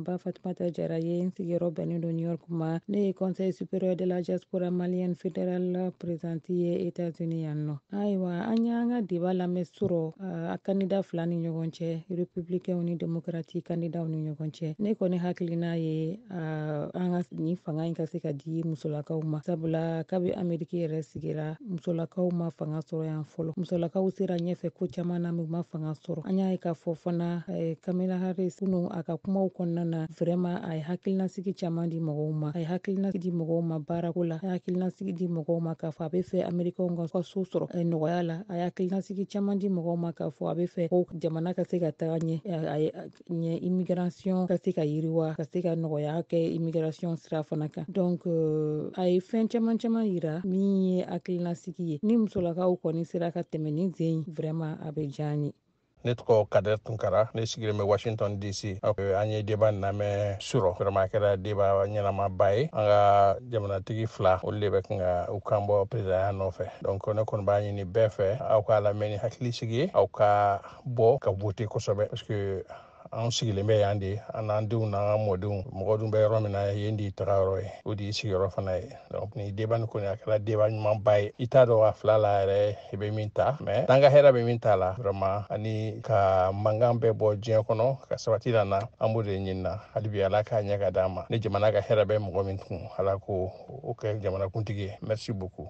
Ba Fatumata Jara ye n sigiyɔrɔ bɛnnen don New York ma ne ye Conseil supérieur de la diaspora malienne fédérale présidente ye États-Unis yan nɔ ayiwa an y'an ka deba lamɛn surɔ a kandida fila ni ɲɔgɔn cɛ républicainw ni démocrate kandidaw ni ɲɔgɔn cɛ ne kɔni hakilina ye Ah, an ka nin fanga in ka se ka di musolakaw ma sabula kabi ameriki yɛrɛ sigira musolakaw ma fanga sɔrɔ yan fɔlɔ musolakaw sera ɲɛfɛ ko caman na u ma fanga sɔrɔ an y'a ye k'a fɔ fana eh, kamala harris kunu a ka kumaw kɔnɔna na vraiment a ye hakilinasigi caman di mɔgɔw ma a ye hakilinasigi di mɔgɔw ma baarako la a ye hakilinasigi di mɔgɔw ma k'a fɔ a be fɛ amerikɛnw ka so sɔrɔ eh, nɔgɔya la a ye hakilinasigi caman di mɔgɔw ma k'a fɔ a be fɛ ko jamana ka se ka taga ɲɛ eh, ɲɛ immigration ka se ka yiriwa ka se ka nɔgɔya kɛ immigration sira fana kan donc euh, a ye fɛn caman caman yira min ye hakilinasigi ye ni musolakaw kɔni sera ka tɛmɛ nin sen vraiment a bɛ diya an ye ne tɔgɔ kadɛr tunkara ne sigilen bɛ washington dc an ye deba lamɛn surɔ vraiment a kɛra deba ɲɛnamaba ye an ka jamanatigi fila olu de bɛ kan ka u kan bɔ peresidanya nɔfɛ donc ne kɔni b'a ɲini bɛɛ fɛ aw k'a lamɛn ni hakilisigi ye aw ka bɔ ka vote kosɛbɛ parce que an sigilen bɛ yan de an n'an denw n'an ka mɔdenw mɔgɔ dun bɛ yɔrɔ min na yen de y'i tagayɔrɔ ye o de y'i sigiyɔrɔ fana ye donc ni deba ni kɔni a kɛra deba ɲumanba ye i t'a dɔn a fila la yɛrɛ i bɛ min ta mais n'an ka hɛrɛ bɛ min ta la vraiment ani ka mankan bɛɛ bɔ diɲɛ kɔnɔ ka sabati lana an b'o de ɲinina hali bi ala k'a ɲɛ k'a d'an ma ni jamana ka hɛrɛ bɛ mɔgɔ min kun ala k'o kɛ jamanakuntigi ye merci beaucoup